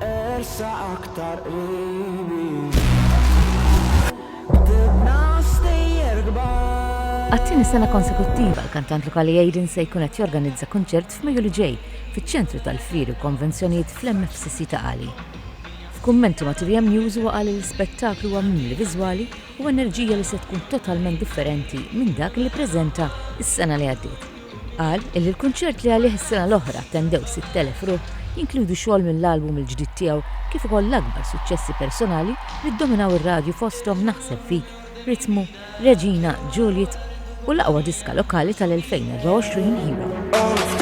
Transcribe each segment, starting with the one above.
Ersa aktar qribi Ktibna stejjer kbar Għat-tieni sena konsekuttiva, l-kantant lokali Aiden se jkun qed jorganizza kunċert f'Mejju li ġej fiċ-Ċentru tal-Fieri u Konvenzjonijiet fl-MFCC ta' Qali. F'kummenti ma' 3M News huwa qal li l-ispettaklu huwa mimli viżwali u enerġija li se tkun totalment differenti minn dak li ppreżenta s-sena li għaddiet. Qal illi l-kunċert li għalih is-sena l-oħra attendew 6,000 ruħ jinkludu xogħol mill-album il-ġdid tiegħu kif ukoll l-akbar suċċessi personali li ddominaw ir-radju fosthom Naħseb Fik, Ritmu, Reġina, Juliet u l-aqwa diska lokali tal-2024 Hero.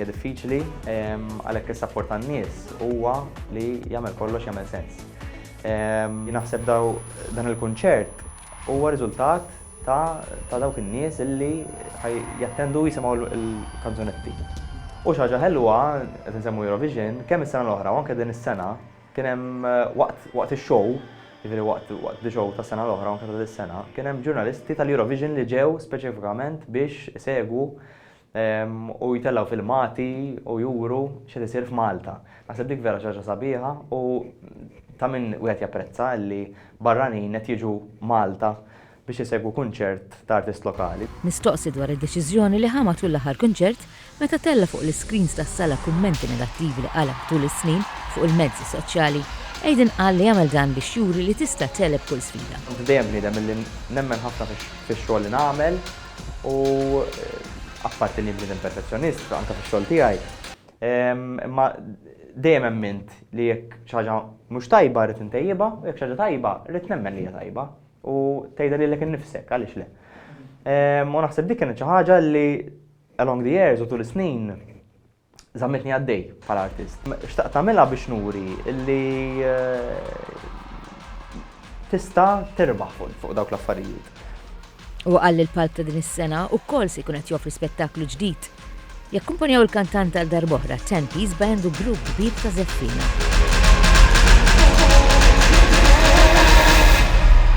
hija diffiċli għalhekk is-sapport tan-nies huwa li jagħmel kollox jagħmel sens. Naħseb dan il-kunċert huwa riżultat ta' dawk in-nies illi ħaj jattendu u jisimgħu l-kanzunetti. U xi ħaġa ħelwa, qed insemmu Eurovision, kemm is-sena l-oħra u anke din is-sena kien hemm waqt ix-show, jiġifieri waqt the show tas-sena l-oħra u anke ta' dis-sena, kien hemm ġurnalisti tal-Eurovision li ġew speċifikament biex isegwu u jtellgħu filmati u juru x'qed isir f'Malta. Naħseb dik vera xi ħaġa sabiħa u ta' min wieħed japprezza li barranin qed jiġu Malta biex isegwu kunċert ta' artist lokali. Mistoqsi dwar id-deċiżjoni li ħa matul l-aħħar kunċert meta tella' fuq l-iscreens tas-sala kummenti negattivi li qala' tul is-snin fuq il-mezzi soċjali, Aiden qal li għamel dan biex juri li tista' tegħleb kull sfida. Kont dejjem bniedem li nemmen ħafna fix-xogħol li nagħmel. u apparti li bniedem perfezzjonist anke fix-xogħol tiegħi, imma dejjem emmint li jekk xi ħaġa mhux tajba rrid intejjibha u jekk xi ħaġa tajba rrid nemmen li hija tajba u tgħidha lilek innifsek, għaliex le. U naħseb dik kienet xi ħaġa li along the years u tul is-snin Żammitni għaddej bħala artist. Xtaqt nagħmilha biex nuri li tista' terbaħ fuq dawk l-affarijiet. Huwa qal li l-palk ta' din is-sena wkoll se jkun qed joffri spettaklu ġdid. Jakkumpanjaw il-kantant għal darb'oħra Ten Piece Band u grupp kbir ta' żeffina.